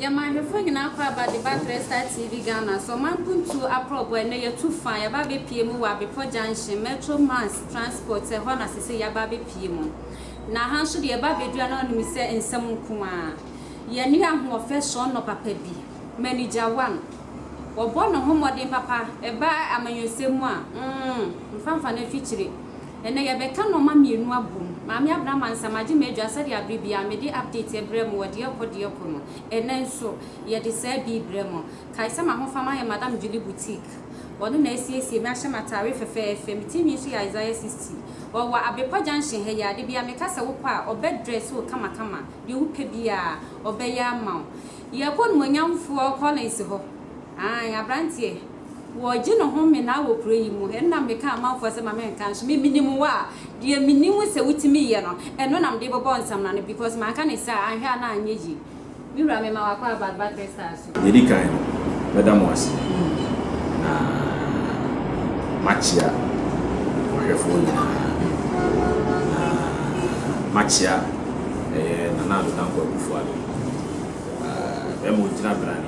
Yɛn manhwɛfoɔ nyinaa kɔ aba de ba Clear Star TV Ghana so ɔman mpuntuo akorɔbɔ ɛnɛ yɛtu fa yɛaba abɛpie mu wɔ Abepɔ Junction Metro Mass Transport ɛhɔ na sesei yɛaba abɛpie mu na ha nso deɛ yɛba abɛdua no anom sɛ nsɛm nko ara yɛne ahoɔfɛ soɔnɔ papa bi Manager One ɔbɔ ne ho mmɔden papa ɛba amanyɔsɛm mu a mm mfa mfa no afikyire Ɛnnɛ yɛbɛka nnoɔma mmienu abom. Maame Abena Mansa, magye m'adwa sɛdeɛ abre biara mede update ɛbrɛ mo wɔ deɛ ɛkɔ deɛ ɛkɔ no. Ɛnnɛ nso yɛde saa bi rebrɛ mo. Kae sɛ m'ahofama yɛ Madam Julie Boutique. Ɔno na asiesie me ahyɛ m'ataare fɛfɛɛfɛ. Me tirinwi nso yɛ Isaiah 60. Ɔwɔ Abrepa Junction ha yi. Ade biara meka sɛ wopɛ a, ɔbɛ dress wo kamakama. Deɛ wopɛ biara, ɔbɛyɛ ama wo. Yɛkɔ Onumonyamfoɔ Collins hɔ. Aane, abranteɛ. Wɔregye no home naa wɔ kuro yi mu. Ɛno na meka amanfoɔ sɛ ma me nka nso me menim wo a deɛ menim sɛ wotumi yɛ no ɛno na mede bɛbɔ nsamena no because manka no saa a anhwɛ a na anyɛ yie. Me wura mema wakɔ abadba crystal so. Deɛ ɛdi kan mɛda mo ase na makyea mo ahwɛfoɔ nyinaa na makyea ɛyɛ Nana Addo Dankwa Akufo-Addo, bɛma ɔgyina berane.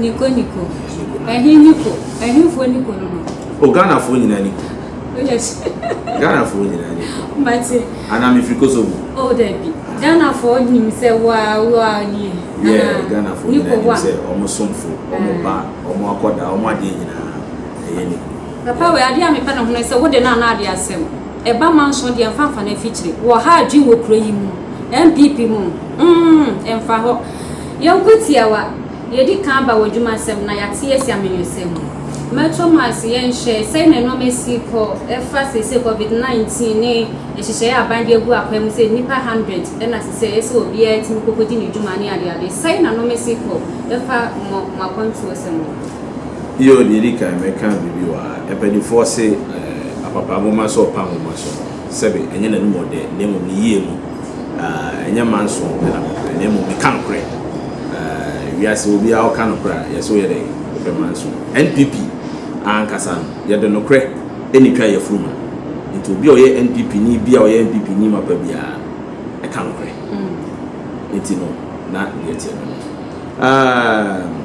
Niko niko. Ɛhe niko? Ɛhefoɔ niko no no? O Ghanafoɔ nyinaa niko. Yes. Ghanafoɔ nyinaa niko. Mate. Anaa mefiri Kosovo. O dabi. Ghanafoɔ nim sɛ waa waa nie. Yɛ Ghanafoɔ nyinaa nim sɛ ɔmo somfo, ɔmo ba, ɔmo akɔda, ɔmo adeɛ nyinaa ɛyɛ niko. Papa wei adeɛ a mepɛ ne ho no sɛ wode no ana adeɛ asɛm. Ɛba manso deɛ mfa mfa no afikyire. Wɔ ha adwene wɔ kuro yi mu. NPP mu. Mm, ɛmfa hɔ. Yɛnkɔ tiawa, Yɛadi kan aba w'adwumasɛm na yɛate asi amanyɔsɛm mu. Mɛto mo ase yɛnhwɛ sɛn na nnoɔma si kɔ ɛfa seesei covid 19 ne nhyehyɛeɛ a aban de agu akwan mu sɛ nnipa 100 na ɛsɛ sɛ ɛyɛ sɛ obiara tumi kɔkɔdi ne dwuma ne adeade. Sɛn na nnoɔma si kɔ ɛfa mo mo akwantuosɛm ho? Yoo, deɛ ɛdi kan mɛka biribi wɔ ha. Mpanimfoɔ se apapa nwoma sɛ ɔpa nwoma so. Sɛbe, ɛnyɛ n'anom ɔdɛ, na mmom ne yie mu. Ɛnyɛ mma nso pɛ na mepɛ, na mmom meka nokorɛ. Wiase, obiara ɔka nokorɛ a, yɛse woyɛ dɛn? Wopɛ mma nso. NPP ankasa no, yɛde nokorɛ na ɛtwa yafunu ma. Nti obi a ɔyɛ NPP ni biara a ɔyɛ NPP ni mapa biara no, ɛka nokorɛ. Nti no, na deɛ ɛteɛ no no. Um,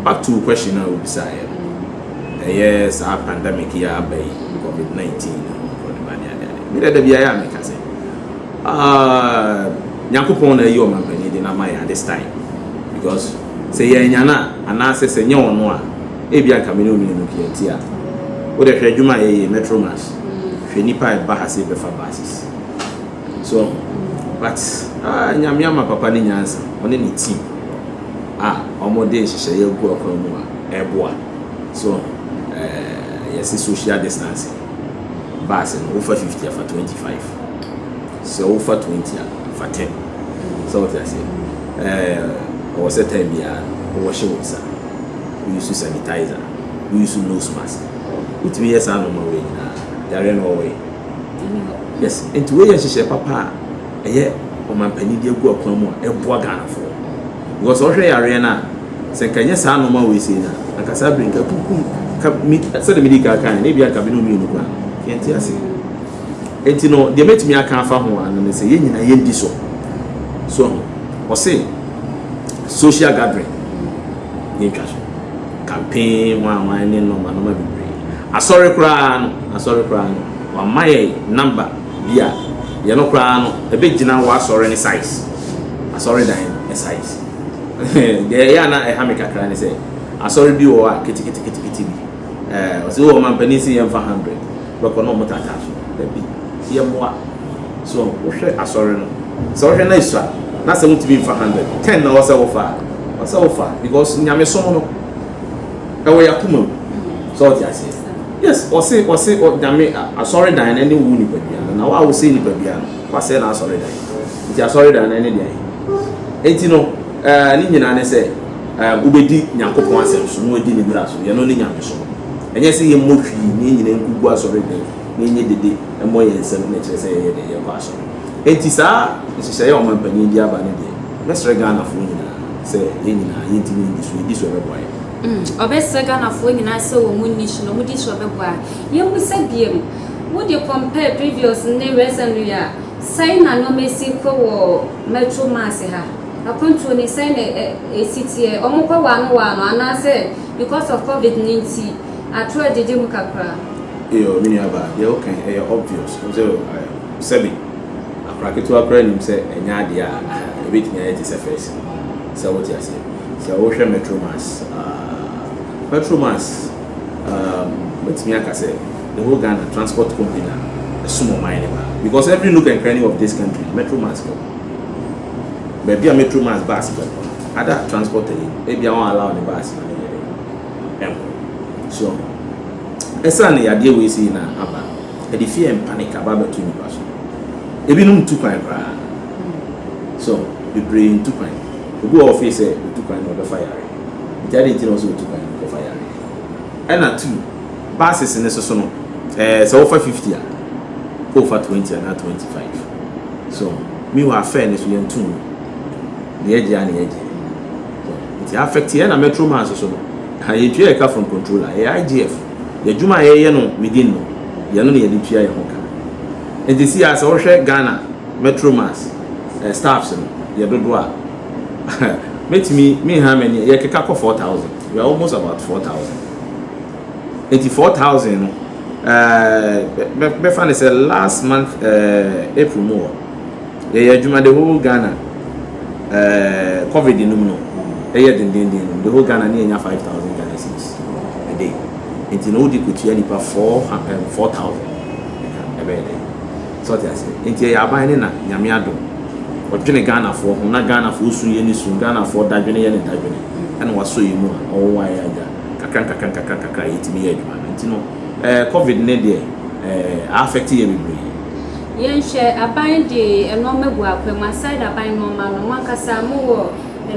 back to wo question a wobisaeɛ no, ɛyɛ saa pandemic yi a aba yi, COVID-19 na Omicron ne ba ne adeade. Me dɛ da biara a meka sɛ, um, Nyankopɔn na ayi ɔmanpanyin de no ama yɛn at this time. Because sɛ yɛanya no a, anaasɛ sɛ nyɛ ɔno a, ebia nka me ne wo mmienu pia nti a. Wo dɛ hwɛ adwuma a yɛyɛ yi, Metromash, hwɛ nnipa a ɛba ha sɛ yɛbɛfa buses. So but ah Nyame ama papa no nyansa ɔne ne team a ɔmo de nhyehyɛeɛ agu akwan mu a ɛboa so eh yɛse social distancing bus no wofa 50 a fa 25 sɛ wofa 20 a fa 10 sɛ wote aseɛ eh ɛwɔ sɛ time biara no wo wɔhye wo nsa wo use sanitizer wo use nose mask wotumi yɛ saa nnoɔma wei nyinaa yareɛ no ɔwɔ he Yes nti wei yɛ nhyehyɛɛ papa a ɛyɛ ɔmanpanyin de agu akwan mu a ɛboa Ghanafoɔ because ɔhwɛ yareɛ no a sɛ nka ɛnyɛ saa nnoɔma wei sei no a anka saa bere nka akunkum ka me sɛdeɛ medi kan kan no ebi anka me ne mmienu kura yɛnte ase nti no deɛ mɛtumi aka afa ho ano ne sɛ yɛn nyinaa yɛndi so so ɔse social gathering Nni ntwaso. Campaign hwan hwan ne nɔma nɔma bebree. Asɔre koraa no, asɔre koraa no, wama yɛn number bi a yɛ no koraa no ɛbɛgyina w'asɔre no size, asɔredan no size. Deɛ ɛyɛ a na ɛha me kakra ne sɛ, asɔre bi wɔ hɔ a keteketekete bi, ɛɛ, ɔse o ɔmampanin se yɛmfa hundred. bɛkɔ na ɔmo taataa so no dabi yɛ mmoa so wohwɛ asɔre no sɛ wohwɛ na esua na sɛ wontumi nfa hundred ten na ɔsɛ wofa a ɔsɛ wofa because nyamesom no ɛwɔ yakoma mu sɛ ɔte aseɛ yes ɔse ɔse nyame asɔre dan no ne wo nipadua no na wo a wosɛ nipadua no wasɛ na asɔre dan nti asɔre dan no ne deɛ nti no ɛɛ ne nyinaa ne sɛ Wobɛdi Nyankopɔn asɛm so na wɔadi Ne mmara so, yɛno ne nyamesom. Ɛnyɛ sɛ yɛmmɔ hwii na yɛn nyinaa nko gu asɔredan na yɛnyɛ dede mmɔ yɛn nsam na ɛkyerɛ sɛ yɛyɛ dɛn? Yɛkɔ asɔre. Enti saa nhyehyɛeɛ a ɔmanpanin de aba no deɛ, mɛsrɛ Ghanafoɔ nyinaa sɛ yɛn nyinaa yɛntumi nni so, yɛdi so a ɛbɛboa yɛn. Ɔbɛsrɛ Ghanafoɔ nyinaa sɛ wɔn nni so, na wɔn di so a ɛbɛboa yɛn. Yɛmmisa biom, wo de compare previous ne recently a, sɛn na nnoɔma asi rekɔ wɔ Metro Mass ha? Akwantuo no sɛn na ɛsi teɛ? Ɔmo kɔ waano waano anaasɛ because of covid no nti atoro agyegye mu kakra? Eyoo me nua baa, deɛ woka yi ɛyɛ obvious, wohu sɛ sɛbe akora ketewa koraa nim sɛ ɛnyɛ adeɛ a ɛbɛtumi ayɛ te sɛ first no, sɛ wote aseɛ. Sɛ wo hwɛ Metro Mass aah, Metro Mass aah, mɛtumi aka sɛ the whole Ghana transport company a ɛsom ɔman no paa, because every nook and cranny of this country Metro Mass wɔ hɔ. baabi a metro mas bus bɛkɔ no ada transport ayi no ebia wɔn allow ne bus ma ne yɛ dɛ ɛnkɔ so ɛsan ne yadeɛ wei sei na aba no ɛde fear and panic aba abɛto nipa so ebinom ntu kwan koraa so bebree ntu kwan obi wɔ ɔfei sɛ otu kwan na ɔbɛfa yare nti ade nti na ɔsɛ otu kwan ɔkɔfa yare ɛna tu buses ne soso no ɛɛ sɛ wɔfa fifty a wɔfa twenty anaa twenty five. So meanwhile afɛɛ no so yɛnto mu deɛ ɛgye a na yɛgye so nti affect yɛn na metro man nso so no ha yɛtua yɛka from controller ɛyɛ IGF yɛdwuma a yɛyɛ no within no yɛn no na yɛde tua yɛn ho ka nti si a sɛ wohwɛ Ghana metro mans eh, staffs no yɛ dodo a mɛtumi menha mani yɛkeka kɔ 4000 we are almost about 4000 Enti four thousand no ɛɛ bɛfa no sɛ last month ɛɛ April mu hɔ yɛyɛ adwuma the whole Ghana ɛɛ covid no mu no ɛyɛ dendenden no the whole Ghana ne yɛnya five thousand Ghana cedis a day enti no wode kɔtua nipa four ɛɛ four thousand ɛbɛyɛ dɛ sɛ ɔte aseɛ enti ɛyɛ aban ne na Nyame adom ɔdwene Ghanafoɔ ho na Ghanafoɔ su yɛ ne su Ghanafoɔ dadwene yɛ ne dadwene ɛna wasɔ yɛ mu a ɔwowaeɛ agya. nkakra nkakra nkakra nkakra a yɛtumi yɛ adwuma no. Nti no eh, covid no deɛ eh, a affect yɛ bebree. Yɛnhwɛ, aban de nnoɔma gu akwam, aside aban nnoɔma no, mo ankasa mo wɔ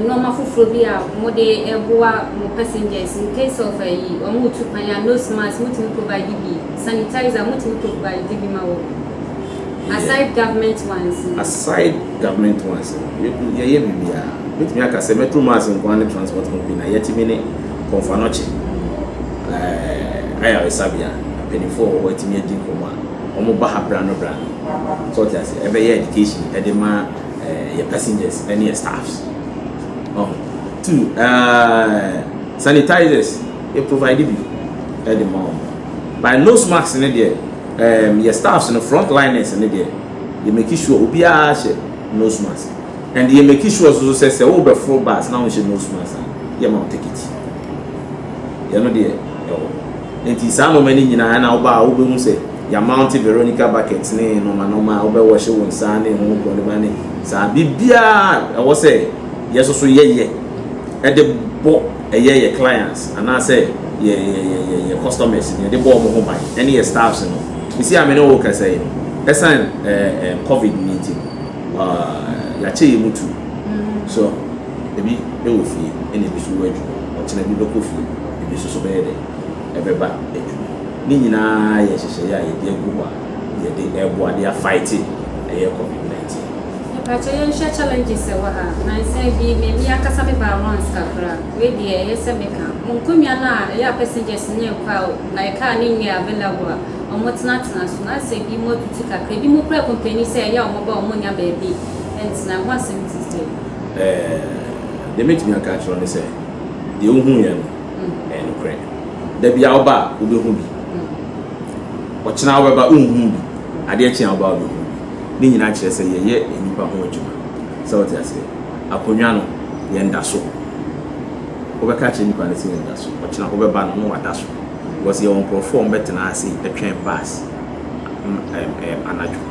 nnoɔma foforɔ bi a mo de boa mo passengers in case of ayi, wɔn retu kwan a, nose mask mo tumi provide bi, sanitizer mo tumi provide bi ma wɔn? Aside government ones no. Aside government ones no, yɛgu yɛyɛ biribiara. Mɛtumi aka sɛ Metro Mass nko ara ne transport company na yɛatumi ne Komfanoche eh, ayaresabea, mpaninfoɔ a wɔwɔ hɔ atumi adi nkɔmmɔ a wɔn ba ha berɛ ano berɛ ano. So wote aseɛ? Ɛbɛyɛ education de ma eh, yɛ passengers ne yɛ staffs. Ɔho. Two, eh, sanitizers, yɛ provide bi de ma wɔn. By nose mask ne deɛ, Ɛɛm yɛ staffs no front liners no deɛ yɛ make sure obiara hyɛ nose mask and yɛ make sure nso so sɛ sɛ wo bɛ foro bus na wo nhyɛ nose mask a yɛ ma wo ticket yɛ no deɛ ɛwɔ nti saa nnoɔma no nyinaa ɛna wo baa wo bɛ hu sɛ yɛ mount Veronica bucket ne nnoɔma nnoɔma a wo bɛ wɔhye wo nsa ne ho kɔ ne ba ne saa biribiara ɛwɔ sɛ yɛ soso yɛ yɛ ɛde bɔ. ɛyɛ yɛ clients anaasɛ yɛ yɛ yɛ yɛ yɛ customers no yɛde bɔ wɔn ho ban ɛne yɛ staffs no sisi a me ne wo rekasa yi no ɛsan ɛɛ ɛɛ covid no nti no ɛɛ yɛakyɛ yɛ mu tu so ebi ɛwɔ fie ɛna ebi so wɔ adwuma ɔkyena ebi bɛkɔ fie ebi nso so bɛyɛ dɛ ɛbɛba adwuma ne nyinaa yɛ nhyehyɛeɛ a yɛde agu hɔ a. yɛde ɛboa de a fighte ɛyɛ covid 19. Mepakyɛ yɛnhwɛ challenges ɛwɔ ha. Nansa bi me me ankasa me baa once kakra. Wei deɛ ɛyɛ sɛ me ka. Mo nkonnwa no a ɛyɛ a passengers no nkɔ a like car no nnyɛ available a wɔn tena tena so no asɛ bi mo atutu kakra. Ebi mo kura complaini sɛ ɛyɛ a wɔn ba a wɔn nnya baabi ntena. Ɛho asɛm titire. Ɛɛ deɛ mɛtumi aka akyerɛ wo ne sɛ deɛ wo hu yɛ no. Ɛyɛ nokorɛ. Da biara woba a wobɛhu bi. Ɔkyena wobɛba wonhuu bi. Adeɛ kye a woba a wobɛhu bi. Ne nyinaa kyerɛ sɛ yɛyɛ nnipa ho adwuma. Sɛ wote aseɛ? Akonnwa no, yɛnda so. Wobɛka akyerɛ nnipa no sɛ yɛnda so. Ɔkyena wobɛba no na wada so. Because yɛwɔ nkorɔfoɔ a wɔbɛtena ase atwɛn bus anadwo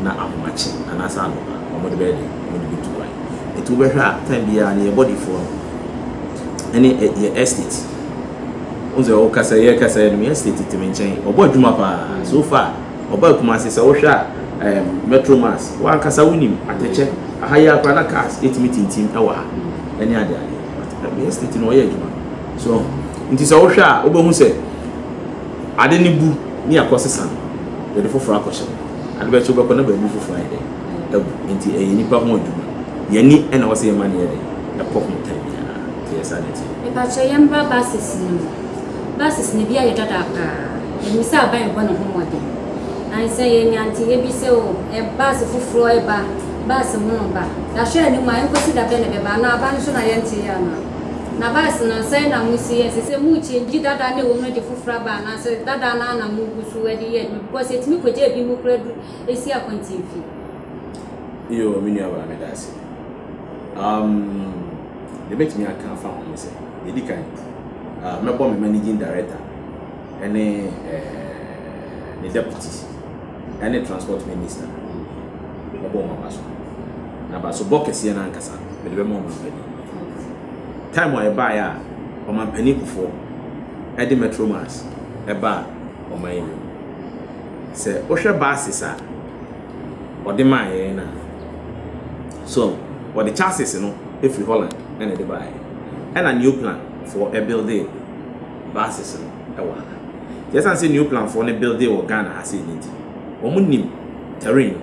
na ahomakye anaasɛ anɔpa. Wɔde bɛyɛ dɛn? Wɔde bɛtu kwan. Nti wobɛhwɛ a time biara no yɛ body foɔ no ɛne yɛ estate Wohu sɛ ɔkasa yɛ kasa yɛ no me estate te me nkyɛn ɔbɔ adwuma paa so far ɔbaa Kumasi sɛ wohwɛ a ɛɛm metro mass wo ankasa wonim atɛkyɛ aha yi ara koraa na cars ɛtumi tintim ɛwɔ ha ɛne ade ade but me estate no ɔyɛ adwuma so nti sɛ wohwɛ a wobɛhu sɛ ade ne bu ne akɔ sesa no yɛde foforɔ akɔhyɛ ade bɛkyɛ wobɛkɔ na baabi foforɔ ayɛ dɛ. agu. Enti ɛyɛ nnipa ho adwuma. Yɛn ani na ɛwɔ sɛ yɛma no yɛ dɛ, ɛkɔ ho time biara. Nti ɛyɛ saa na ɛteɛ. Mepakyɛw yɛmbra buses no mu. Buses no bi ayɛ dada paa. Ɛnim sɛ aban rebɔ ne ho mmɔden. Ansa yɛanya nteyɛ bi sɛ oh, bus foforɔ reba, bus hono ba. Yɛahwɛ anim a, ɛnkosi da bɛn na ɛbɛba? Anaa aba no so na yɛnteeɛ anaa? Na bus no, sɛn na mosi yɛ? Ɛsɛ sɛ mo change dada no a ɛwɔ mu no de foforɔ aba anaasɛ dada no ara na mogu so de yɛ adwuma? Because ɛtumi kɔgyaa binom koraa duru. esi akwantin fi. Yoo me nua baa meda ase. Um deɛ mɛtumi aka afa ho ne sɛ deɛ di kan uh, mɛbɔ me managing director ɛne eh, ne deputy ɛne transport minister mɛbɔ wɔn aba so na ba so bɔ kɛseɛ no ankasa mede bɛma wɔn mpanin time a ɛbaeɛ a wɔn mpanin kufoɔ ɛde metromas ɛbaa wɔn ayɛ mu Sɛ wohwɛ buses a wɔde maa yɛn no a, so wɔde chassis no firi Holland na ɛde baeɛ? Ɛna Neoplan foɔ buildee buses no wɔ ha. Nti ɛsiane sɛ Neoplan foɔ no buildee wɔ Ghana ha sei no nti, wɔn nim terrain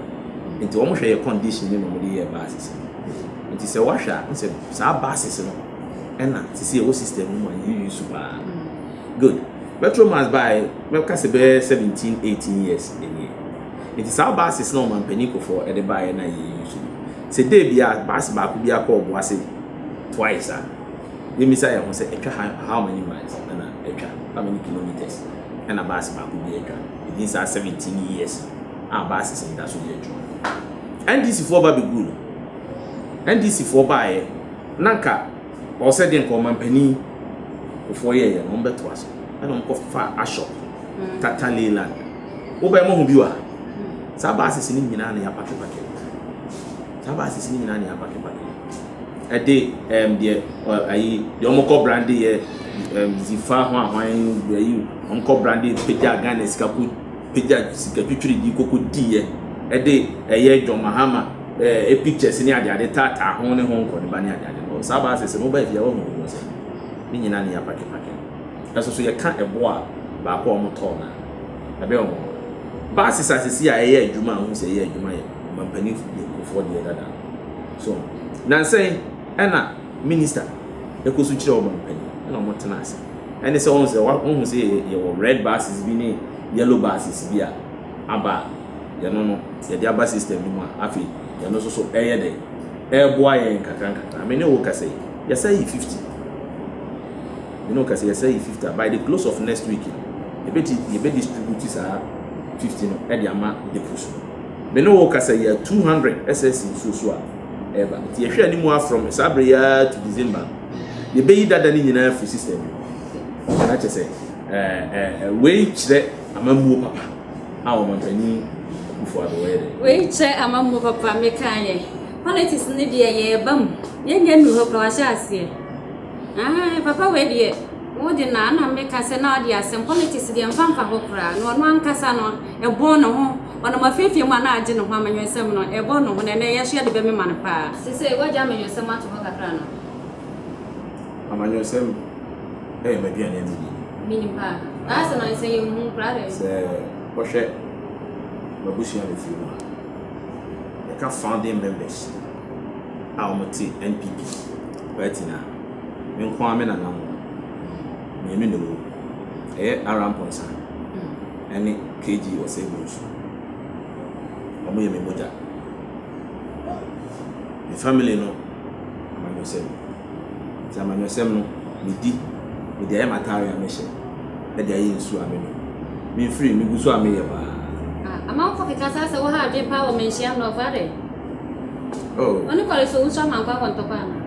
no, nti wɔn hwɛ yɛ condition no na wɔn de yɛɛ buses no. Nti sɛ woahwɛ a, wohu sɛ saa buses no ɛna sisi ɛwɔ system no mu a yɛ use paa. Good. Petromax bae, mɛka sɛ bɛyɛ seventeen, eighteen years nie. Nti saa buses na ɔmanpanin Kufuor de baeɛ na yɛ use no. Sɛ day biara bus baako biara kɔ Obuasi twice a, yɛmmisa yɛn ho sɛ ɛtwa how, how many miles ɛna ɛtwa, how many kilometres ɛna bus baako bi atwa within saa seventeen years a buses no da so di adwuma. NDC foɔ ba bɛgu no. NDC foɔ baeɛ na nka Ɔwɔ sɛ deɛ nka ɔmanpanin Kufoɔ yɛeɛ no wɔbɛtoa so ɛna wɔkɔfaa Ashok Tata Leyland wobɛn moahu bi wɔ ha saa buses no nyinaa na yɛapakepake saa buses no nyinaa na yɛapakepake ɛde ɛm deɛ ayi deɛ wɔkɔ brande yɛ ɛm zifa ho ahwan ayi wɔkɔ brande pagya Ghana sika ko pagya sikatwitwiridii kɔkɔdiiɛ de ɛyɛ John Mahama eh, pictures ne adeade taataa ho ne ho nkɔneba ne adeade no. Saa baase sɛ moba afie a wahu ne ho sɛ ne nyinaa ne yɛapakepake no. Ɛso so yɛka ɛbo a baako a wɔtɔɔ no a ɛbɛyɛ wɔn ho. Baase sasesie a ɛyɛ adwuma a wohu sɛ ɛyɛ adwuma yɛ ɔmampaninfoɔ deɛ dada no. So, nansɛn ɛna. Minister no kɔ so kyerɛ wɔn pɛn na wɔn tena ase. Ɛne sɛ wɔn sɛ wɔahu sɛ yɛwɔ red buses bi ne yellow buses bi a aba a yɛno no yɛde aba system no mu a afei yɛno nso so ɛyɛ dɛ ɛreboa yɛn nkakra nkakra. Me ne wo kasa yi yɛsa yi 50. Me ne wo kasa yɛsa yi 50 a by the close of next week no yɛbɛti yɛbɛ distribute saa 50 no ɛde ama depots no. Me ne wo kasa yi a 200 SS nsuo so a. ɛreba. Nti yɛhwɛ anim ara from saa bere yi ara to December no, yɛbɛyi dada no nyinaa afiri system no mu. Na kyerɛ sɛ ɛɛ ɛɛ wei kyerɛ amammuo papa a ɔmanpanin Akufo Addo wɔyɛ dɛ. Wei kyerɛ amammuo papa meka yɛ. Politics no deɛ yɛreba mu. Yɛnyɛ nnu hɔ paa wahyɛ aseɛ. Ah, papa wei deɛ wo de na na meka sɛ na ɔde asɛm politics deɛ mfa mfa hɔ koraa na ɔno ankasa no ɛbɔn ne ho Ɔnam afeefee mu a na agye ne ho amanyɔsɛm no, ɛrebɔ ne ho, na ɛnnɛ yɛn nso yɛde bɛmema no paa. Seesei, woagya amanyɔsɛm ato hɔ kakra no? Amanyɔsɛm yɛ m'aduane anidie. Menim paa. Na ayɛ sɛ na ɛsɛ yɛn hu koraa dɛn? Sɛ wohwɛ m'abusua a mefiri mu a, yɛka founding members a wɔte NPP party no a, me nko ara me nananom mmienu na wɔwɔ mu. Ɛyɛ Arah Mponsah. Ɛne KG Osei Bonsu. Ɔmo yɛ me mogya. Me family no amanyɔsɛm. Nti amanyɔsɛm no me di. Me de ayɛ m'ataare a me hyɛ. Ɛde ayɛ nsuo a me nom. Me mfiri me gu so a me yɛ paa. Ah amanfo keka saa sɛ wo ha adwen paa wɔ manhyia mmrɔfo adɛn? Oh. Ɔne Kɔles Owusu Amankwaa wɔ ntɔkwa anaa?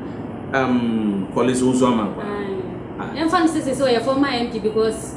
Um Kɔles Owusu Amankwaa. Ae. Ah. Yɛmfa no sɛ sese ɔyɛ former MP because.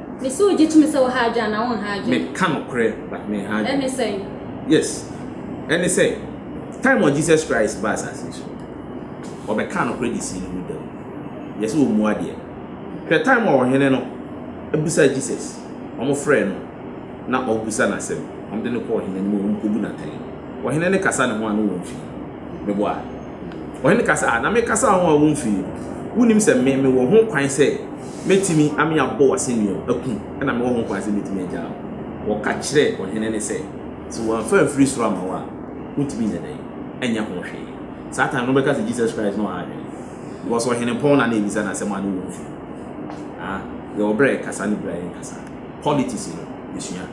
Me se ogye tumi sɛ wo ha adwene anaa wonha adwene. Me ka nokorɛ but me nha adwene. Ɛne sɛn? Yes ɛne sɛ time a Jesus Christ baa asase yi so no ɔbɛ kaa nokorɛ de sii ne wu da mu. Yɛ sɛ ɔmua deɛ. Hwɛ time a ɔhene no bisa Jesus ɔmo frɛɛ no na ɔbisa no asɛm ɔmo de no kɔ ɔhene no mu ɔmo kɔ bu no atɛn no ɔhene no kasa ne ho a na wɔn fii. Me boa. Ɔhene ka sɛ, Ah, na mekasa ho a womfii? Wunnim sɛ me, mewɔ ho kwan sɛ metumi ame abɔ wo asɛnnua, aku, ɛna mewɔ ho kwan sɛ metumi agyaa wo? Wɔka kyerɛɛ ɔhene no sɛ, Sɛ wɔamfa amfiri soro amma wo a, wontumi nyɛ dɛn? Ɛnyɛ ho hwee. Saa time no wobɛka sɛ Jesus Christ na ɔha adwene, because ɔhenepɔn no a na ɛrebisa no asɛm a na wɔmfii. Ah, yɛwɔ berɛ a yɛkasa ne berɛ a yɛnkasa. Politics no esua.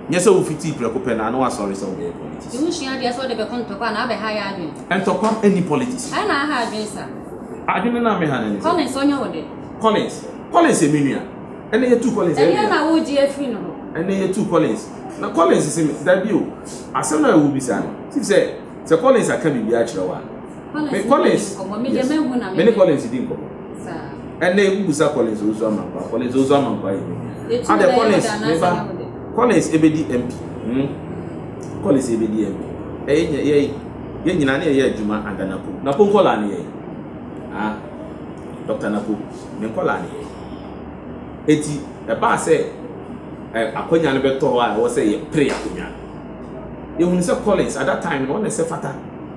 Nyɛ sɛ wo fitii prɛko pɛ na na w'asɔre sɛ wo bɛyɛ politics. Eho sua deɛ sɛ wo de bɛko ntɔkwa na abɛ ha yɛ adwene. Ntɔkwa nni politics mu. Ɛyɛ na aha adwene sa. Adwene no a me ha no ne sɛ. Collins ɔnyɛ wo dɛ. Collins Collins yɛ me nua. Ɛnɛ yɛ tuu Collins ɛyɛ me ya. Ɛdeɛ na wo gye afiri no hɔ. Ɛnɛ yɛ tuu Collins na Collins se me dabi o asɛm no a wo bisa no sim sɛ sɛ Collins aka biribi akyerɛ wo a. Me Collins. Yes. Me ne Collins di nkɔmɔ. Ɛnna ewu busa Collins ozu amankwa. Collins ozu amankwa yi. Adɛ Collins ne ba. Collins ebedi MP. Hmm. Collins ebedi MP. Ɛyɛ nyɛ yɛ yɛ nyinaa ne yɛ adwuma ada napo. Napo nkɔla ne yɛ. Ah. Dr. Napo ne nkɔla ne yɛ. Eti ɛbaa sɛ ɛ akɔnya no bɛtɔ hɔ a ɛwɔ sɛ yɛ pere akɔnya. Yɛhunu sɛ Collins at that time no ɔne sɛ fata.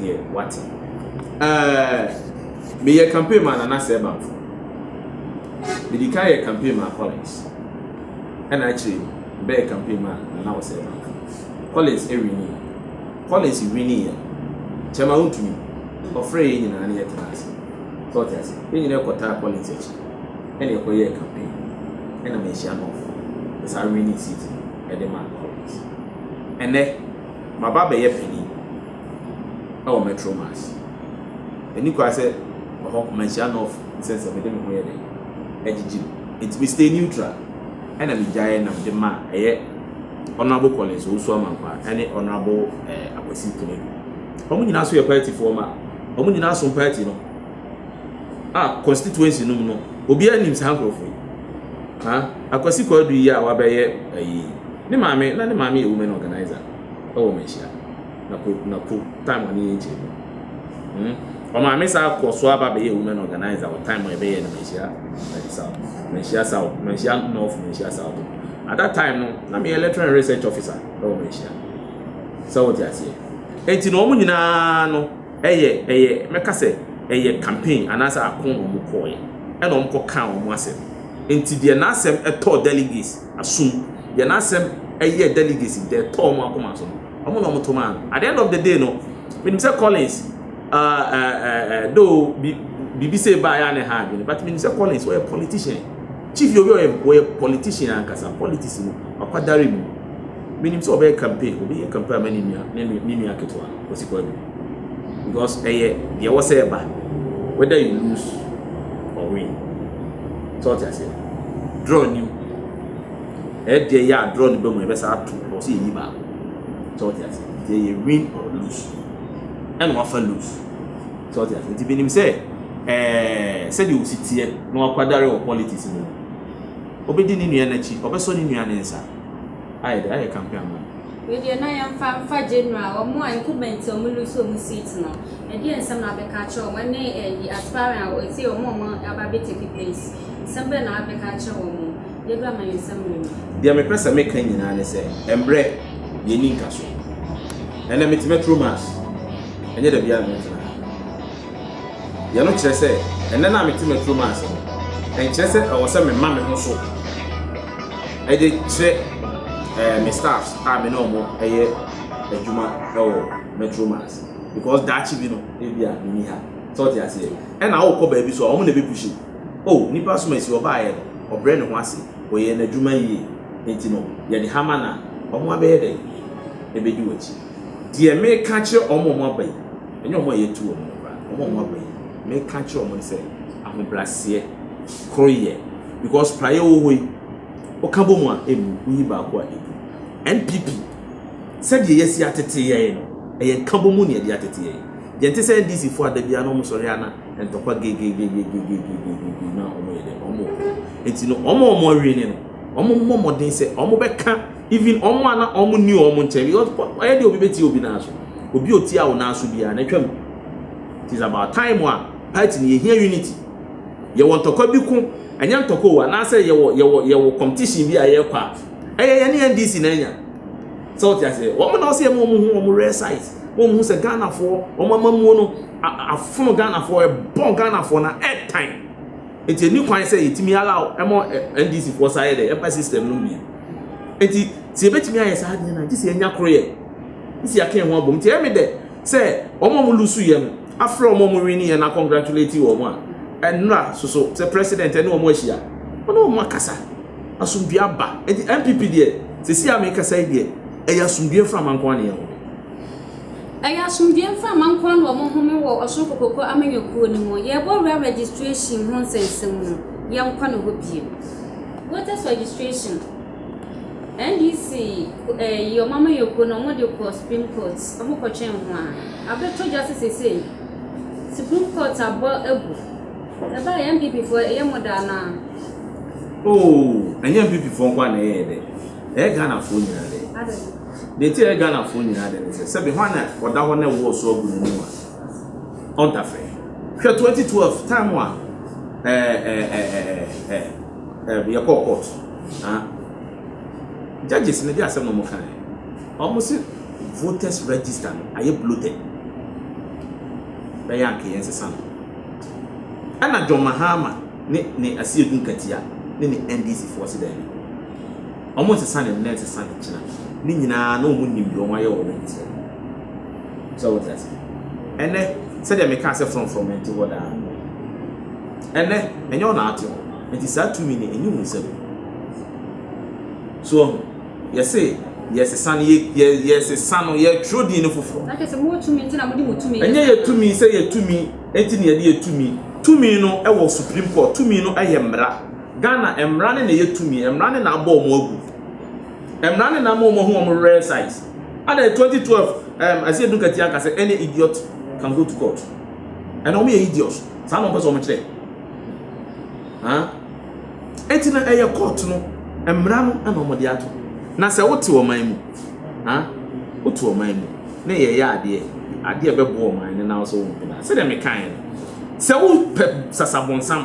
deɛ wate. Ɛɛ meyɛ campaign ma Nana Sɛ Bamfo. Medi kan yɛ campaign ma Collins. Ɛna akyire yi bɛyɛ campaign ma Nana Ɔsɛ Bamfo. Collins ɛwini yɛ. Collins wini yɛ. Kyɛma wontumi. Ɔfrɛ yɛ nyinaa ne yɛ tena ase. Sɛ ɔte ase. Yɛ nyinaa ɛkɔtaa Collins akyi. Ɛna ɛkɔ yɛ campaign. Ɛna mehyia no ɔfo. Ɛsa wini seat ɛde ma Collins. Ɛnɛ. Maba abɛyɛ fani wɔ Metro Mass. Ɛni kwan sɛ ɛhɔ Manhyia North nsɛnsɛm no de me ho yɛ dɛn? Agyigye me. Enti me stay neutral ɛna me gyaeɛ na mede maa ɛyɛ Honourable Collins Owusu-Amankwah ɛne Honourable eh, Akwasi Konadu. Wɔn nyinaa nso yɛ party foɔ ma. Wɔn nyinaa som party no a constituency no mu no obiara nim saa nkorɔfoɔ yi. Ha, Akwasi Konadu yi a wabɛyɛ ɛyi, Ne maame, na ne maame yɛ women organiser wɔ Manhyia, na kɔ, na kɔ time ɔne yɛn kyɛ mu. Hmm. Ɔmaame saa kɔ so aba bɛyɛ women organiser wɔ time a ɛbɛyɛ no Manhyia eh, South, Manhyia South, Manhyia North, Manhyia South. At that time no, na meyɛ lecturer and research officer wɔ Manhyia. Sɛ wote aseɛ. Enti na wɔn nyinaa no, ɛyɛ, ɛyɛ, mɛka sɛ, ɛyɛ campaign anaasɛ ako na wɔn kɔɔyɛ, ɛna wɔn kɔ kaa wɔn asɛm. Enti deɛ n'asɛm ɛtɔɔ delegates, Asom. Deɛ n'asɛm yɛ delicacy, deɛ ɛtɔɔ wɔn akoma so no, wɔn na wɔto maa no. At the end of the day no, menim sɛ Collins, uh, uh, uh, though biribi sɛ ɛbaa yɛ a na ɛha adwene, but menim sɛ Collins ɔyɛ politician. Chief Yobi ɔyɛ ɔyɛ politician ankasa, politics no, wakwadare mu. Menim sɛ ɔbɛyɛ campaign, ɔbɛyɛ campaign ama ne nua, ne nua ketewa. Wɔsi kɔ adu because ɛyɛ deɛ ɛwɔ sɛ ɛba whether you lose or win. Sɛ ɔte aseɛ draw nim ɛdeɛ yɛ a draw no bɛ mu ɛbɛ saa to ɛwɔ sɛ yɛyi baako. Sɛ ɔte aseɛ nti ɛyɛ win or lose ɛna wafa lose. Sɛ ɔte aseɛ nti menim sɛ ɛɛ sɛdeɛ osi teɛ na wakwadare wɔ politics mu ɔbɛdi ne nua n'akyi ɔbɛsɔ ne nua ne nsa ayɛ de ayɛ campaign ama no. Wei deɛ na yɛmfa mfa general wɔn a incumbent wɔn lose wɔn seat no ɛdeɛ nsɛm na abɛka akyerɛ wɔn ɛne ɛyi eh, aspiring a ɛsɛ wɔn a wɔn aba bɛ take place nsɛm bɛn na abɛka akyerɛ wɔn mo deɛ bi ama yɛn nsɛm mmerɛ mu. Deɛ mepɛ sɛ meka nyinaa ne sɛ mbrɛ deɛ ni nka so ɛnɛ mete mɛturo mass ɛnyɛ da biara na mɛtena ha. Deɛ ɛno kyerɛ sɛ, Ɛnnɛ no a mete m'aturo mu ase no, ɛnkyerɛ sɛ ɛwɔ sɛ mema me ho so de kyerɛ me staffs a me ne wɔn yɛ adwuma wɔ m'aturo mu ase because daakye bi no ebia menni ha. Sɛ ɔte aseɛ? Ɛna wokɔ baabi so a wɔn na ɛbɛpushi wo. O, nipa som asi ɔbaeɛ no, ɔbrɛ ne ho ase, ɔyɛɛ n'adwuma yie, enti no yɛde ha ma no a, wɔabɛyɛ dɛn? Ɛbɛdi w'akyi. Deɛ mereka akyerɛ wɔn a wɔaba yi. Ɛnyɛ wɔn a yɛatu wɔn mmra no, wɔn a wɔaba yi, mereka akyerɛ wɔn no sɛ, ahobrɛaseɛ, koroyɛ, because praeɛ a ɛwɔ hɔ yi, woka bɔ mu a, ɛmmu, woyi baako a, ɛgu. NPP, sɛdeɛ yɛasi atete yɛn no, ɛyɛ nkabɔ mu na yɛde atete yɛn. Yɛnte sɛ NDC foɔ a da biara na wɔsɔre ara na ntɔkwa gegegegegegegege na wɔyɛ dɛn, wɔwɔ hɔ. Enti no, wɔn a wɔawini no, wɔmmɔ mmɔden sɛ wɔbɛka Even wɔn a na wɔn ni wɔn nkyɛn because ɔyɛ de obi betie obi nan so. Obi otia wo nan so biara na twam. It is about time a party ni yɛhia unity. Yɛwɔ ntɔkwa bi ko, ɛnyɛ ntɔkwa o, anaasɛ yɛwɔ yɛwɔ yɛwɔ competition bi a yɛrekɔ a. Ɛyɛ yɛne NDC na anya. Sɛ wote aseɛ, wɔn na ɔsɛ yɛ ma wɔn ho wɔn rare size. Wɔn hu sɛ Ghanafoɔ, wɔn amamuo no afono Ghanafoɔ, ɛbɔ Ghanafoɔ na ɛtan. Enti ɛnni kwan sɛ yɛtumi allow ɛma NDC foɔ saa yɛ dɛ yɛmpa system nom bio. Enti sɛ yɛbɛtumi ayɛ saa deɛ na gye sɛ yɛnya koroyɛ, gye sɛ yɛaka yɛn ho abom. Nti ɛyɛ me dɛ sɛ wɔn a wɔn lusu yɛ no afrɛ wɔn a wɔn wini yɛ no a congratulate wɔn a ɛnra soso sɛ president ɛne wɔn ahyia ɔne wɔn akasa asomdue aba. Enti NPP deɛ sɛsi a mekasa yi deɛ ɛyɛ asomdue mframa nko ara na yɛwɔ. Ɛyɛ asomdwoeɛ mframa nko ara na wɔhome wɔ Ɔsoro Kokokoɔ amanyɔkuo no mu. Yɛrebɔ wura registration ho nsɛnsɛm no, yɛnkɔ ne hɔ bio. Voters registration, NDC eh, yi wɔn amanyɔkuo no wɔde kɔ Supreme Court, wɔkɔtwɛn ho a, abɛtɔ dwa sɛ seesei Supreme Court abɔ agu. Ɛbaa yɛ NPP foɔ ɛyɛ mo da anaa? Oo, oh, ɛnyɛ NPP foɔ nko a na ɛyɛ dɛ, ɛyɛ Ghanafoɔ nyinaa dɛ. Deɛ nti a ɛyɛ Ghanafoɔ nyinaa dɛ ne sɛ, sɛbe hwan na ɔda hɔ na ɛwoɔ so agu n'anim a, ɔnta frɛ. Hwɛ 2012 time a yɛkɔɔ court a, judges no de asɛm na wɔkaeɛ. Wɔn se voters register no ayɛ bloated, bɛyɛ anka yɛnsesa no. Ɛna John Mahama ne ne Asiedu Nkatia ne ne NDC foɔ se daabi. Wɔnsesa ne nnɛ, nsesa ne nkyena. Ne nyinaa na wɔnnim deɛ wɔayɛ wɔ ne nkyerɛ mu. Sɛ wote aseɛ? Ɛnnɛ, sɛdeɛ mekaa sɛ frɔmfrɔm nte hɔ daa no, ɛnnɛ, ɛnyɛ wo na ate hɔ. Enti saa tumi no, ɛnni wo nsam. So woahu? Yɛse yɛresesa no, yɛ, yɛ, yɛresesa no, yɛretwerɛ din no foforɔ. Na kyerɛ sɛ mowɔ tumi nti na mode mo tumi yɛ saa. Ɛnyɛ yɛ tumi sɛ yɛ tumi nti na yɛde yɛ tumi. Tumi no wɔ Supreme Court, tumi no yɛ mmara. Ghana mmara ne na ɛyɛ tumi, mmara ne na abɔ wɔn agu, mmara ne na ama wɔn ahu wɔn rare size. Ada 2012 um, ɛsɛ edunkati anka sɛ any idiot can go to court. Ɛna wɔn yɛ idiot, saa na wɔn pɛ sɛ wɔn kyerɛ. Ha? Eti na ɛyɛ court no, mmara no ɛna wɔn de ato. Na sɛ wote ɔman mu, ha? Wote ɔman mu, na yɛyɛ adeɛ, adeɛ bɛboa ɔman no na wɔsɛ wɔn nkɔda. Sɛdeɛ mekaeɛ no, sɛ wopɛ sasabonsam,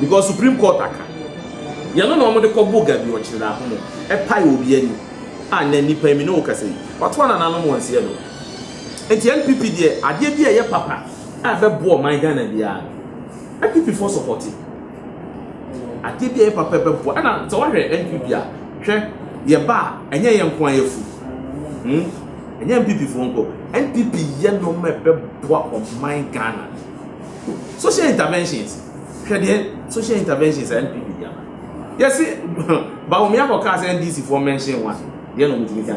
because supreme court aka yɛn no na wɔn de kɔ bo gabi ɔkyerɛ na ahomo ɛpae wɔ obi ani a na nipa mi ne wo kasa yi wato ana nanom wɔn nseɛ do nti npp deɛ adeɛ bi a ɛyɛ papa a ɛbɛboɔ ɔman ghana biara no npp fo sɔpɔte adeɛ bi a ɛyɛ papa ɛbɛboɔ ɛna sɛ wɔhwɛ npp a hwɛ yɛ ba a ɛnyɛ yɛn nko a yɛfu hmm ɛnyɛ npp fo nko npp yɛ nɔɔma ɛbɛboa ɔman ghana social interventions hwɛ deɛ social interventions a npp di ama yɛsi bawumia kɔ kaa sɛ ndc foɔ mɛnhyɛn wa deɛ na ɔmo tumi kan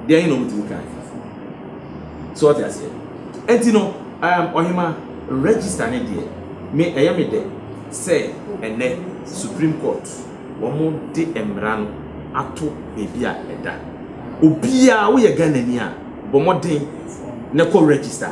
deɛ yɛ na ɔmo tumi kan so ɔte aseɛ ɛnti no ɛɛm um, ɔhema register ne deɛ me ɛyɛ me dɛ sɛ ɛnɛ supreme court wɔn de mmara no ato baabi a ɛda obiara woyɛ ghana ni a bɔ mmɔden na kɔ register.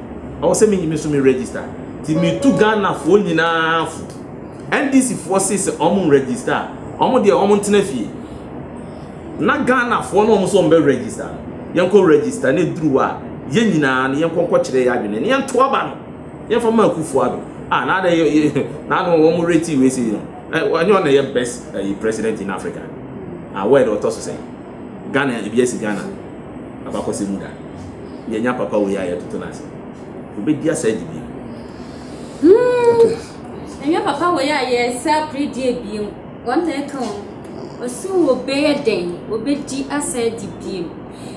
Ɛwɔ sɛ me nso me register. Ti me tu Ghana foɔ nyinaa fo. NDC foɔ se sɛ ɔmo register a, ɔmo deɛ ɔmo ntena fie. Na Ghana foɔ no ɔmo so ɔmo bɛ register no. Yɛnkɔ register ne duru hɔ a, yɛn nyinaa no yɛnkɔ nkɔ kyerɛ yɛ adwene ne yɛnto aba no. Yɛmfa ma Akufo Addo. Ah, na adɛ yɛ, na ano ɔmo reti wei sei no. Ɛnyɛ ɔna yɛ best ɛyi president in Africa. Ah, word ɔtɔ so sɛn. Ghana ebi asi Ghana abakɔsɛm mu da yɛnya papa wei a yɛtoto no ase obɛdi asa adi bio hmm. ɛnyɛ papa wei a yɛsɛ aperedeɛ bio wɔn na ɛka wɔn ɔsi wɔbɛyɛ dɛn wɔbɛdi asa adi bio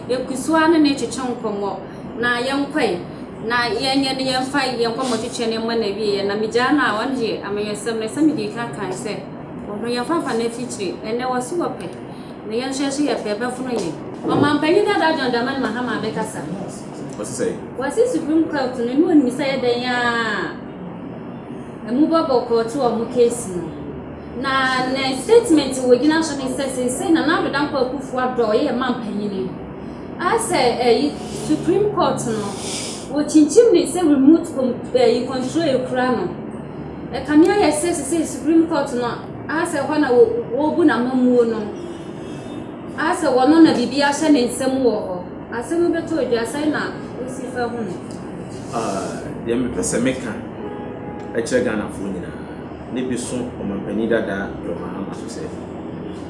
ɛkusoa no na ɛtwetwe nkɔmmɔ na yɛnkɔe na yɛnyɛ no yɛmfa yɛn nkɔmmɔ twetwe no mmɔ na wieɛ na megyaa no a wɔn deɛ amanyɔsɛm no sɛ mede ka kan sɛ ɔno yɛmfa mfa no afikyire ɛnɛ wɔso wɔpɛ Ne yɛn nso ɛso yɛ fɛ, ɛbɛfono yɛn. Ɔmanpanyin dada John Dramani Mahama abɛkasa. Ɔse sɛn? Ɔse Supreme Court no ne onim sɛ ɛyɛ dɛn a ɛmu bɔ bɔkɔɔ to wɔn case no. Na ne statement a wɔgyina so ne sɛ seesei Nana Addo Dankwa Akufo Addo a ɔyɛ yɛn manpanyin a sɛ ɛyi Supreme Court no wɔkyinkyim ne sɛ remote com ɛyi control ekura no. Ɛkame ayɛ sɛ seesei Supreme Court no Asɛ hɔ na wobu n'amammuo no. Asɛ hɔ no na biribi ahyɛ ne nsa mu wɔ hɔ. Asɛm no bɛtɔ dwa, sɛn na wosi fa hu no? Deɛ mepɛ sɛ meka kyerɛ Ghanafoɔ nyinaa, ne bi so ɔmampanin dada John Mahama so sɛ,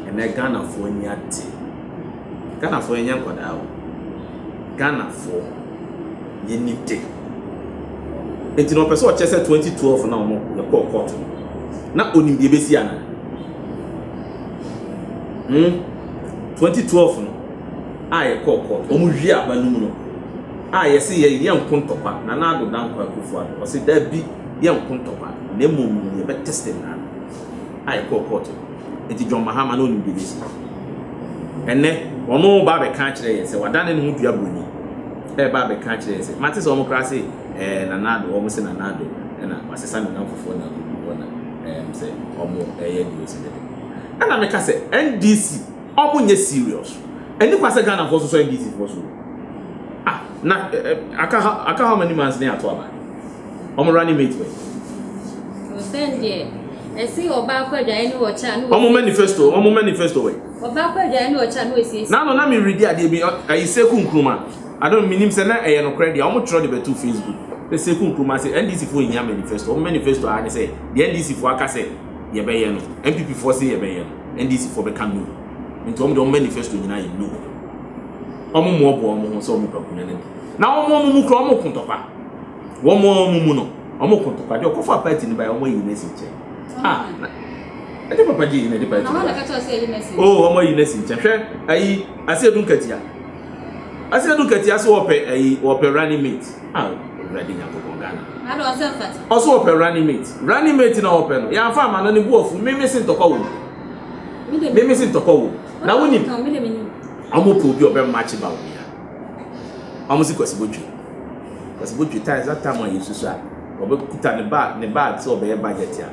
ɛnnɛ Ghanafoɔ ani ate. Ghanafoɔ yɛnyɛ nkwadaa o. Ghanafoɔ yɛni de. Nti no ɔpɛ sɛ ɔkyerɛ sɛ 2012 na ɔmo yɛkɔɔ court no na onim deɛ ebesi ana? Hmm? 2012 no a yɛkɔɔ court ɔmo wie aba no mu no a yɛse yɛ yɛ nko ntɔkwa na na ado dankwa akufo ado ɔse dabi yɛ nko ntɔkwa na mmom no yɛbɛ testing na a ɛkɔɔ court no nti John Mahama na onim BBC. Ɛnɛ ɔno ba abɛka akyerɛ yɛn sɛ wadane ne ho dua broni ɛba abɛka akyerɛ yɛn sɛ mate sɛ wɔn koraa se ɛɛ Nana Addo wɔn se Nana Addo ɛna wasesa ne nam fofoɔ na agugu hɔ na ɛɛm sɛ wɔn ɛyɛ news ne de ɛna meka sɛ NDC wɔn nyɛ serious ɛni kwa sɛ Ghana foɔ so sɔ NDC foɔ so ah na aka how many months ne ato aba. Wɔn running mate bɛ. Ɔsɛn deɛ ɛsi ɔba akɔ adwaeɛ ne ɔkyɛ a ne Wɔn manifesto, wɔn manifesto wɛ. Ɔba akɔ adwaeɛ ne ɔkyɛ a ne ɔsiesie. N'ano na meredi adeɛ bi ayi Seku Nkrumah. I don't menim sɛ na ɛyɛ nokorɛ deɛ wɔn twerɛ de bɛto Facebook. Sɛ Seku Nkrumah sɛ NDC foɔ nhia manifesto. Wɔn manifesto ara ne sɛ deɛ NDC foɔ aka sɛ yɛbɛyɛ no, NPP foɔ se yɛbɛyɛ no, NDC foɔ bɛka no. Nti wɔn deɛ wɔn manifesto nyinaa yɛ no. Wɔn mmoaboa wɔn ho sɛ wɔn pɛ Akonnwa no adi. Na wɔn wɔn mu kura wɔn ko tɔkwa. Wɔn a wɔn mu no, wɔn kɔ ntɔkwa. Deɛ ɔkɔfaa party no baeɛ, wɔayi no asi nkyɛn. Ah, na ɛnyɛ papa gye yi na ɛde party no baeɛ. Oh, wɔayi no asi nkyɛn. Hwɛ, ayi, ase edu nkatia. Ase edu nkatia so wɔpɛ ayi, wɔpɛ running mate. Ah, Awurade Nyankopɔn Ghana. Na de ɔsɛ mfata. Ɔso wɔpɛ running mate. Running mate na wɔpɛ no. Yɛamfa ama no ne bo afu. Meme se ntɔkwa wɔ mu. Meme se ntɔkwa wɔ mu. Na wonim, wɔn pɛ obi ɔbɛmakye ba wɔn ya. Ɔmo se Kwasi Botwe. Kwasi Botwe taa ɛza tam a yɛsusu a ɔbɛ kuta ne bag ne bag sɛ ɔbɛyɛ budget a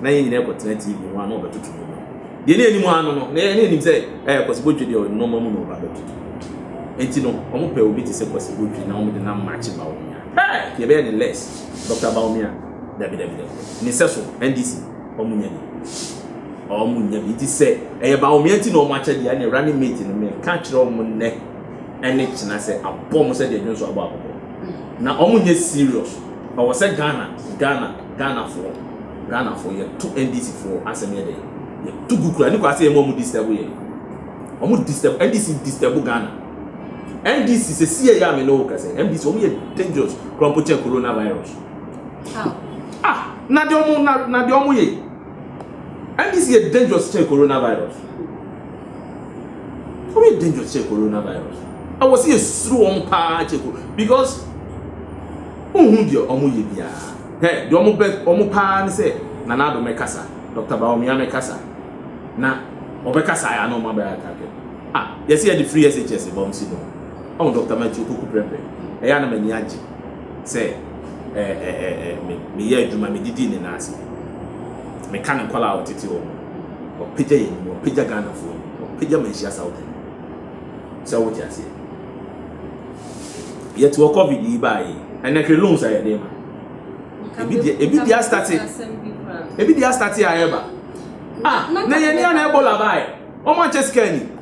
na yɛn nyinaa kɔ tena TV ho a na ɔbɛ toto mu no. Deɛ ne anim ano no na yɛn anim sɛ ɛɛ Kwasi Botwe deɛ nneɛma mu na ɔba bɛ toto. Enti no ɔmo pɛ obi te sɛ Kwasi Botwe na ɔmo de nam makye Bawumia. Hɛɛ! Yɛbɛyɛ ne less Doctor Bawumia. Dabi dabi dabi dabi. Ne sɛso NDC ɔmo nya bi. Ɔmo nya bi nti sɛ ɛyɛ baomea nti na ɔmo akyɛ deɛ ɛne running mate no me ka kyerɛ ɔmo nnɛ ɛne kyena sɛ abɔ ɔmo sɛ deɛ dwonso abɔ abɔbɔ. Na ɔmo nyɛ serious. Ɔwɔ sɛ Ghana Ghana Ghana foɔ Ghana foɔ yɛ to NDC foɔ asɛm yɛ dɛn yɛ to gu kura ne kwa sɛ yɛ mo ɔmo disturb yɛ. Ɔmo disturb NDC disturb Ghana. NDC sɛ si yɛ yɛ a me ne wo kasa NDC ɔmo yɛ dangerous kura mpo kyɛn coronavirus. ah na deɛ ɔmo na na deɛ ɔmo yɛ ndc yɛ dangerous kyɛn coronavirus ɔmo yɛ dangerous kyɛn coronavirus ɛwɔ sɛ yɛsuro wɔn paa kyɛ ko because wohu deɛ ɔmo yɛ biara hɛ deɛ ɔmo bɛ ɔmo paa ne sɛ nana ado mɛkasa dr baomia mɛkasa na ɔbɛkasa ayɛ ana ɔmo abɛyɛ atake ah yɛsɛ yɛde free shs bɔm si no ɔmo dr matthew koku prɛprɛ ɛyɛ ana m'ani agye sɛ meyɛ adwuma, medidi ne nan ase, meka ne nkwadaa a wɔtete hɔ no, wɔpagya yɛn mu, wɔpagya Ghanafoɔ mu, wɔpagya Manhyia Southern mu. Sɛ wote aseɛ. Yɛte wɔ COVID yi baa yi, ɛnɛ hwɛ loans a yɛde ma. Ebi deɛ ebi deɛ astate, ebi deɛ astate a ɛreba. Ah, na yɛn ni a na Ebola baa yi, wɔn ankyɛ sika ni.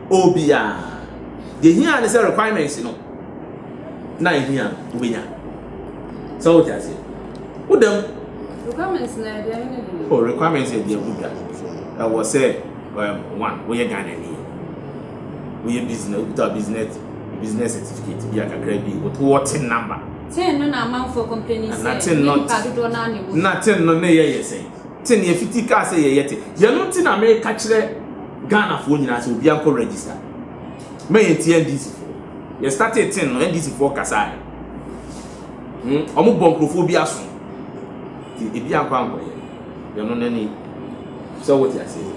Obiara. Deɛ hia ne sɛ requirements no na ehia no wobɛnya. Sɛ wote aseɛ. Woda mu. Requirements na yɛ deɛ ne deɛ. Oh, requirements yɛ deɛ wodwa. Ɛwɔ sɛ um, one, woyɛ Ghana ni. Woyɛ business, wokuta business business certificate bi a kakra bi woto wɔ ten number. Ten no na amanfoɔ complain sɛ ne nipa dodoɔ no a na ɛwɔ. Na ten no ne yɛ yɛ sɛn. Te nea Fiti kaa sɛ yɛyɛ te. Yɛno nti na meka kyerɛ Ghanafoɔ nyinaa sɛ obiara nkɔ register. Ma yɛntie NDCfoɔ. Yɛ startee ten no, NDCfoɔ kasaeɛ. Hmm, wɔn bɔ nkurɔfoɔ bi aso. Nti ebi ankɔ ankɔyɛ. Yɛno no ni. Sɛ wote aseɛ.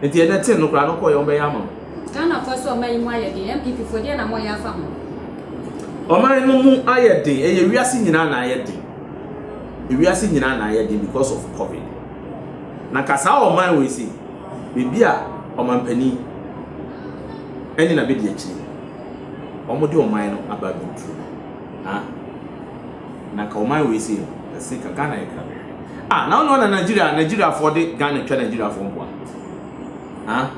Nti ɛnɛ ten no koraa no kɔyɛ wɔn bɛyɛ ama wo. Ghanafoɔ sɛ ɔman yi mu ayɛ den, NPP foɔ deɛn na moyɛ afa ho? Ɔman no mu ayɛ den, ɛyɛ wiase nyinaa na ayɛ den. ewiase nyinaa na ayɛ den because of covid na ka saa ɔman wei se baabi a ɔmanpanin ɛne na bɛdi akyire wɔn de ɔman no aba abɛduru ha na ka ɔman wei se ɛse ka Ghana yɛ krabe ah na ɔno na Nigeria Nigeria fo de Ghana twa Nigeria fo mboa ha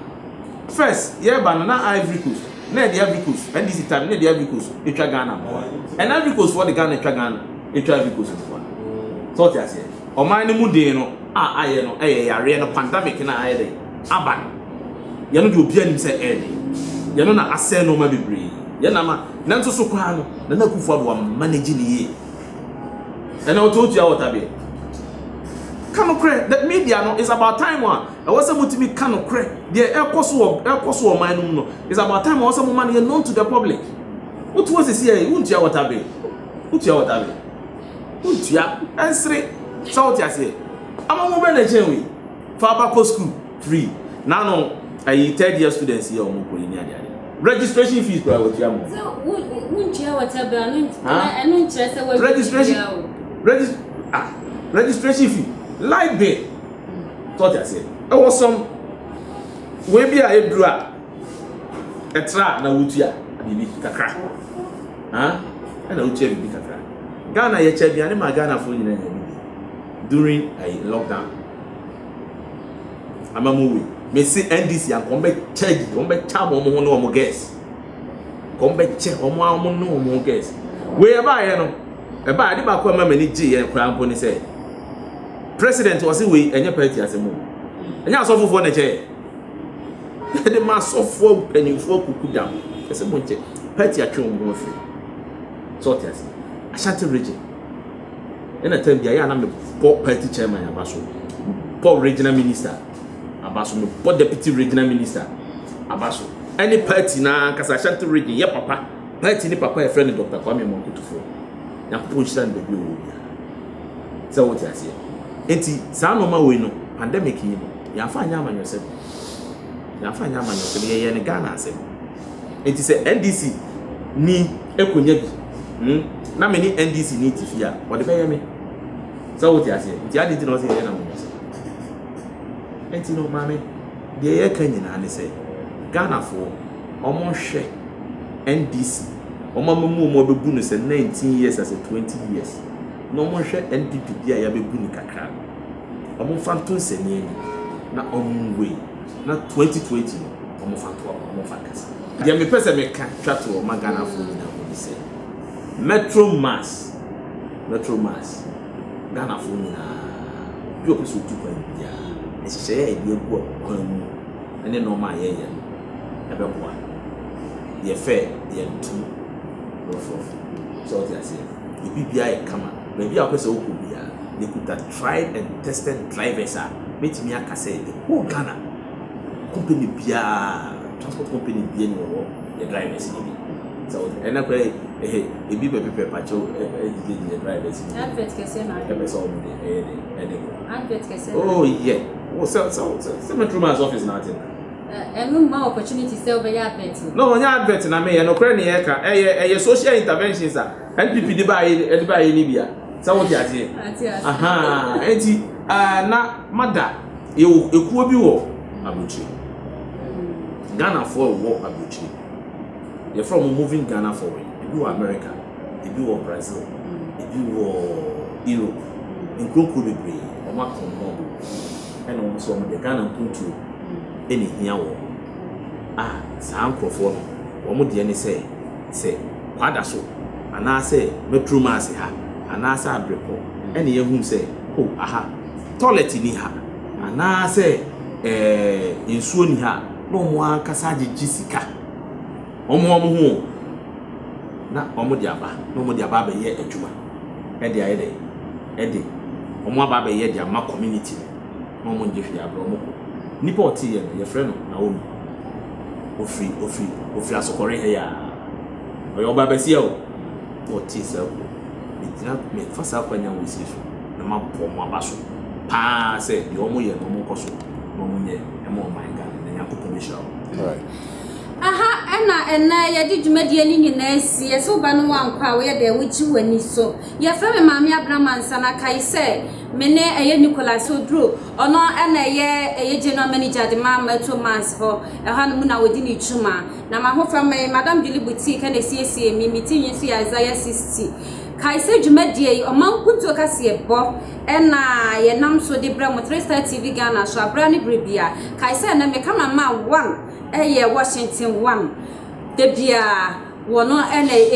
first yɛba no na Ivory Coast na ɛde Ivory Coast, NDC time, na ɛde Ivory Coast atwa Ghana nkoa. Ɛna Ivory Coast foɔ de Ghana atwa Ghana atwa Ivory Coast nkoa. Sɛ ɔte aseɛ, ɔman no mu den no a ayɛ no ɛyɛ yareɛ no pandemic no a ayɛ dɛ aba no. Yɛno deɛ obiara nim sɛ ɛɛde. Yɛno na asɛe nneɛma bebree. Yɛn na ama, nanso so koraa no, Nana Akufo-Addo wa manage ne yie. Ɛna ɔte otua wɔtabeɛ. Ka no korɛ, the media no is about time a. Ɛwɔ sɛ motumi ka nokorɛ, deɛ ɛrekɔ so wɔ ɛrekɔ so wɔ ɔman no mu no. It's about time ɛwɔ sɛ moma no yɛ known to the public. Wotu hɔ sisi yɛ wontua water bill, wotua water bill, wontua ɛnsere sɛ wote aseɛ. Ama mo bɛ na ɛkyɛn wei, fa aba kɔ school free. Na no ɛyi third year students yɛ wɔn kɔ yi ni adeade. Registration fees kura wɔtua mo. So wontua water bill ano ɛno nkyerɛ sɛ wɔn registration registration ah registration fee light bill. So ɔte aseɛ? Ɛwɔ sɔm. Wei bi a ɛduru a ɛtra na wotua biribi kakra. Ɛna wotua biribi kakra. Ghana yɛkyɛ aduane ma Ghanafoɔ nyinaa nyɛ bi during a lockdown. Ama mo wei. Mese NDC anka wɔn bɛkyɛ gyi, wɔn bɛkyɛ abɔ wɔn ho ne wɔn gɛs. Wɔn bɛkyɛ wɔn a wɔn ne wɔn ho gɛs. Wei ɛbaayɛ no, ɛbaayɛ de baako a ɛma m'ani gye yɛn koraa mpo ne sɛ President ɔse wei ɛnyɛ party asɛm o, ɛnyɛ asɔfofoɔ na ɛkyɛ yɛn. Yɛde ma asɔfoɔ mpanimfoɔ akuku da ho. Ɛsɛ mo nkyɛ. Party atwe wɔn ho afiri. Sɛ ɔte ase. Ashanti region. Ɛna tam bi a yɛ a na mebɔ party chairman aba so. Mebɔ regional minister aba so. Mebɔ deputy regional minister aba so. Ɛne party na ankasa Ashanti region yɛ papa. Party ne papa yɛfrɛ no Dr. Kwame Amoah Kutufoɔ. Nyankopɔn nhyira no baabi a ɔwɔ biara. Sɛ wote aseɛ? Enti saa nnoɔma wei no, pandemic yi no, yɛamfa anyɛ amanyɔsɛm. Yɛamfa anyɛ amanyɔsɛm, yɛyɛɛ no Ghana asɛm. Enti sɛ NDC ni ɛkɔnya bi, hmm, na me ne NDC ni te fie a, ɔde bɛyɛ me. Sɛ wote aseɛ? Nti adi nti na ɔsɛ yɛyɛ no amanyɔsɛm. Enti no, maame, Deɛ yɛreka nyinaa ne sɛ Ghanafoɔ wɔnhwɛ NDC, wɔn ama mu wɔn abɛbu no sɛ nineteen years asɛ twenty years, na wɔnhwɛ NPP deɛ a yɛabɛbu no kakra no, wɔmfa nto nsania mu na wɔnwei na twenty twenty no wɔmfa nto aba, wɔmfa nkasa. Deɛ mepɛ sɛ meka twa toɔ ma Ghanafoɔ nyinaa hu ne sɛ Metro Mass, Metro Mass, Ghanafoɔ nyinaa, bi a ɔpɛ sɛ ɔtu kwan biara, nhyehyɛeɛ a yɛde agu kwan mu ne nnoɔma a yɛyɛ no bɛboa. Deɛ fɛ yɛ ntom rough rough. Sɛ wote aseɛ? Yɛ biribiara yɛ kama. Baabi a wopɛ sɛ wokɔ biara, yɛkuta tried and tested drivers a mɛtumi aka sɛ the whole Ghana, company biara, transport company biara ni wɔwɔ yɛ drivers no bi. Sɛ wote, ɛnɛ koraa ehe. Ebi pɛ pepɛ pakyɛw ɛ ɛ ɛdidi deɛ drivers mu Advert kɛseɛ na adwene. ɛpɛ sɛ ɔmo de ɛyɛ dɛ ɛde kɔ Advert kɛseɛ na oh adwene. yɛ wo sɛ sɛ sɛ sɛ metro man's office na ate no Ɛ ɛno mma wo opportunity sɛ wobɛyɛ advert no. no nyɛ advert na meyɛ nokorɛ ne yɛka ɛyɛ ɛyɛ social interventions a NPP de baayɛ ne ɛde baayɛ ne bia sɛ wote aseɛ Ate aseɛ. ahaa ɛnti ɛɛ na mada yɛwɔ ekuo bi wɔ Abrokyire Ghanafoɔ wɔ Abrokyire. Yɛfrɛ wɔn moving Ghana forward. Ebi wɔ America, ebi wɔ Brazil, ebi wɔ Europe, nkuro nkuro bebree. Wɔn aka wɔn ho abom ɛna wɔn nso wɔn deɛ Ghana mpuntuo ɛna ehia wɔn. A saa nkorɔfoɔ no wɔn deɛ ne sɛ, sɛ Kwadaso anaa sɛ Maturomaase ha anaa sɛ Abrepɔ ɛna yɛhunu sɛ oh aha toilet nni ha anaa sɛ ɛɛ nsuo nni ha a na wɔn ankasa agyegye sika. wɔmmoa wɔn ho o, na wɔde aba na wɔde aba abɛyɛ adwuma de ayɛ dɛ, de wɔn aba abɛyɛ de ama community no na wɔn ngye hwee abrɛ wɔn kɔ. Nipa a ɔte yɛ no yɛfrɛ no Naomi, ofiri ofiri ofiri asokɔre ha yi a, ɔyɛ ɔbaa basia o, na ɔte saa kuo, megyina mefa saa kwan nyinaa wɔ esiri so na ma bɔ wɔn aba so paa sɛ deɛ wɔn yɛ no wɔn nkɔ so na wɔn nyɛ ɛma ɔman Ghana na Nyankopɔn bɛhyira wɔn. Aha na ɛnnɛ yɛde dwumadie no nyinaa asie. Sɛ woba no woankɔ a woyɛ dɛn? Wogye w'ani so. Yɛfrɛ me Maame Abena Mansa na kae sɛ me ne ɛyɛ Nicholas Oduro. Ɔno na ɛyɛ ɛyɛ General Manager de ma Metro Mass hɔ. Ɛhɔ no mu na wɔdi ne dwuma. Na m'ahofama yi, Madam Julie Boutique na ɛsiesie me. Me ti nwi nso yɛ Isaiah 60. Kae sɛ dwumadie yi, ɔma nkuntuo kaseɛbɔ. na yɛnam so de brɛ mo, Three Star TV Ghana so, abra ne bere bia. Kae sɛ ɛnɛ me cameraman one yɛ Washington one. Da bia wɔn na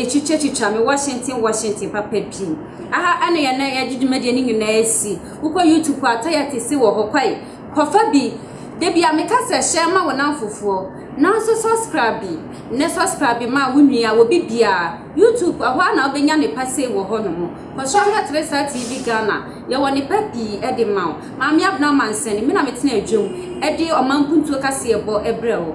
ɛtwitwa twitwa me Washington Washington papa bi. Aha ɛna yɛn na yɛde dwumadie no nyinaa asi. Wokɔ YouTube a tayɛ te se wɔ hɔ kwae. Kɔfa bi. Da bia me ka sɛ hyɛ ma wo nam fofoɔ. Nanso subscribe bi ne subscribe bi ma wo nua, wɔ bi bia. YouTube ɛhɔ a na wobɛnya ne pa sei wɔ hɔ nom. Kɔsra me atere saa TV Ghana yɛwɔ nepa pii de ma wo. Maame Abena Mansani me na me tena adwam de ɔman mpuntuo kaseɛ bɔ brɛ wo.